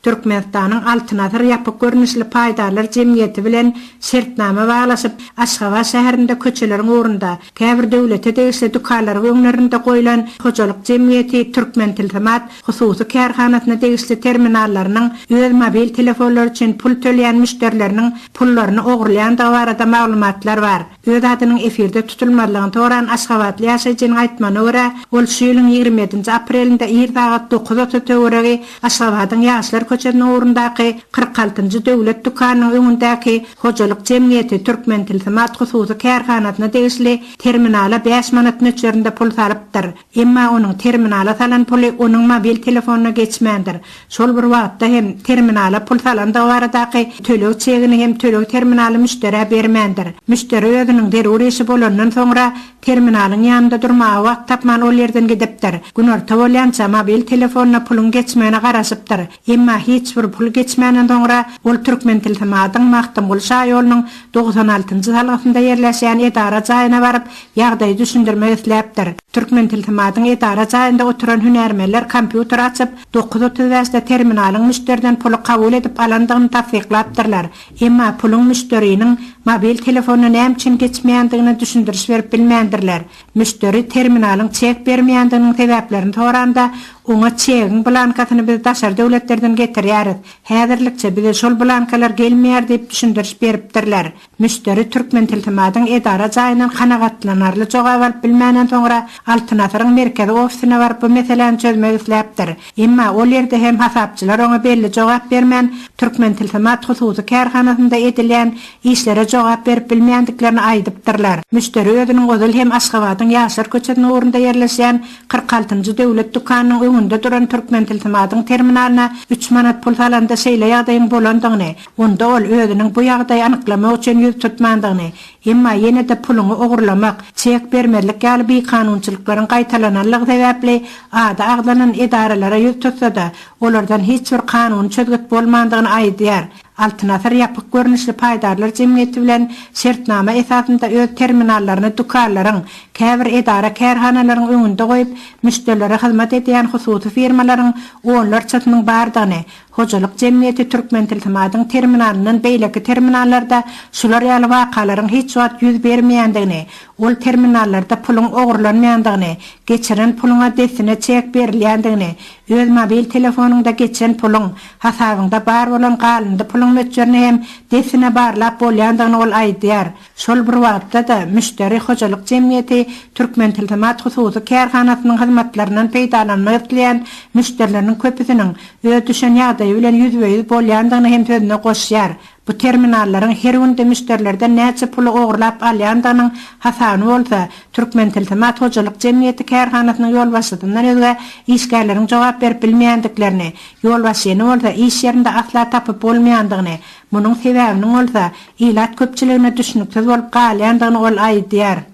Türkmenistanyň Altyn asyr ýapyk görnüşli paýdarlar jemgyýeti bilen şertnama baglaşyp, Aşgabat şäherinde köçeleriň ugrunda, käbir döwlete degişli dükanlaryň öňlerinde goýlan hojalyk jemgyýeti Türkmentilsimat hususy kärhanasyna degişli terminallarynyň öz mobil telefonlary üçin pul tölýän müşderileriniň pullaryny ogurlaýandygy barada maglumatlar bar. Öz adynyň efirde tutulmazlygyny soran aşgabatly ýaşaýjynyň aýtmagyna görä, ol şu ýylyň ýigrimi ýedinji aprelinde ir sagat dokuz otuz töweregi Aşgabadyň Ýaşlar köçesiniň ugrundaky kyrk altynjy döwlet dükanynyň öňündäki Hojalyk jemgyýeti Türkmentilsimat hususy kärhanasyna degişli terminala bäş manat möçberinde pul salypdyr. Emma onuň terminala salan puly onuň mobil telefonyna geçmändir. Şol bir wagtda hem, terminala pul salandygy baradaky töleg çegini hem töleg terminaly müşderä bermändir. Müşderi özüniň zerur işi bolandan soňra, terminalyň ýanynda durmaga wagt tapman ol ýerden gidipdir. Günorta bolýança mobil telefonyna puluň geçmegine garaşypdyr. Emma hiç bir pul geçmänden soňra, ol Türkmentilsimatyň Magtymguly şaýolunyň togsan altynjy salgysynda ýerleşýän edara jaýyna baryp, Ýagdaýy düşündirmek isläpdir. Türkmentilsimatyň edara jaýynda oturan hünärmenler kompýuteri açyp, dokuz otuz bäşde terminalyň müşderiden puly kabul edip alandygyny tassyklapdyrlar. Emma puluň müşderiniň mobil telefonyna näme üçin geçmeýändigine düşündiriş berip bilmändirler. Müşderi terminalyň çek bermeýändiginiň sebäplerini soranda, oňa çegiň blankasyny biz daşary döwletlerden getirýäris, häzirlikçe bize şol blankalar gelmeýär diýip düşündiriş beripdirler. Müşderi Türkmentilsimatyň edara jaýyndan kanagatlanarly jogap alyp bilmänden soňra, Altyn Asyryň merkezi ofisine baryp bu meseläni çözmek isläpdir. Emma ol ýerde hem hasapçylar oňa belli jogap bermän, Türkmentilsimat hususy kärhanasynda edilýän işlere jogap berip bilmeýändiklerini aýdypdyrlar. Müşderi özüniň ozal hem Aşgabadyň Ýaşlar köçesiniň ugrunda ýerleşýän kyrk altynjy döwlet dükanynyň öňünde duran Türkmentilsimatyň terminalyna üç manat pul salanda şeýle ýagdaýyň bolandygyny, Onda ol özüniň bu ýagdaýy anyklamak üçin ýüz tutmandygyny, emma ýene-de puluňy ogurlamak, çek bermezlik ýaly bikanunçylyklaryň gaýtalananlygy sebäpli ady agzalan edaralara ýüz tutsa-da, olardan hiç bir kanuny çözgüt bolmandygyny aýdýar. Altyn Asyr ýapyk görnüşli paýdarlar jemgyýeti bilen şertnama esasynda öz terminallaryny dükanlaryň, käbir edara-kärhanalaryň öňünde goýup, müşderilere hyzmat edýän hususy firmalaryň onlarçasynyň bardygyny, Hojalyk jemgyýeti Türkmentilsimatyň terminalyndan beýleki terminallarda şular ýaly wakalaryň hiç wagt ýüz bermeýändigini, ol terminallarda puluň ogurlanmaýandygyny, geçiren puluňa dessine çek berilýändigini, öz mobil telefonyňda geçen puluň, hasabyňda bar bolan galyndy puluň möçberini hem dessine barlap bolýandygyny ol aýdýar. Şol bir wagtda-da, müşderi hojalyk jemgyýeti Türkmentilsimat hususy kärhanasynyň hyzmatlaryndan peýdalanmak isleýän müşderileriniň köpüsiniň öz düşen ýagdaýy bilen ýüzbe-ýüz bolýandygyny hem sözüne goşýar, bu terminallaryň her günde müşderilerden näçe puly ogurlap alýandygynyň hasabyny bolsa, Türkmentilsimat hojalyk jemgyýeti kärhanasynyň ýolbaşçysyndan özge işgärleriň jogap berip bilmeýändiklerini, ýolbaşçyny bolsa iş ýerinde asla tapyp bolmaýandygyny, Munuň sebäbiniň bolsa, ilat köpçüligine düşnüksiz bolup galýandygyny ol aýdýar.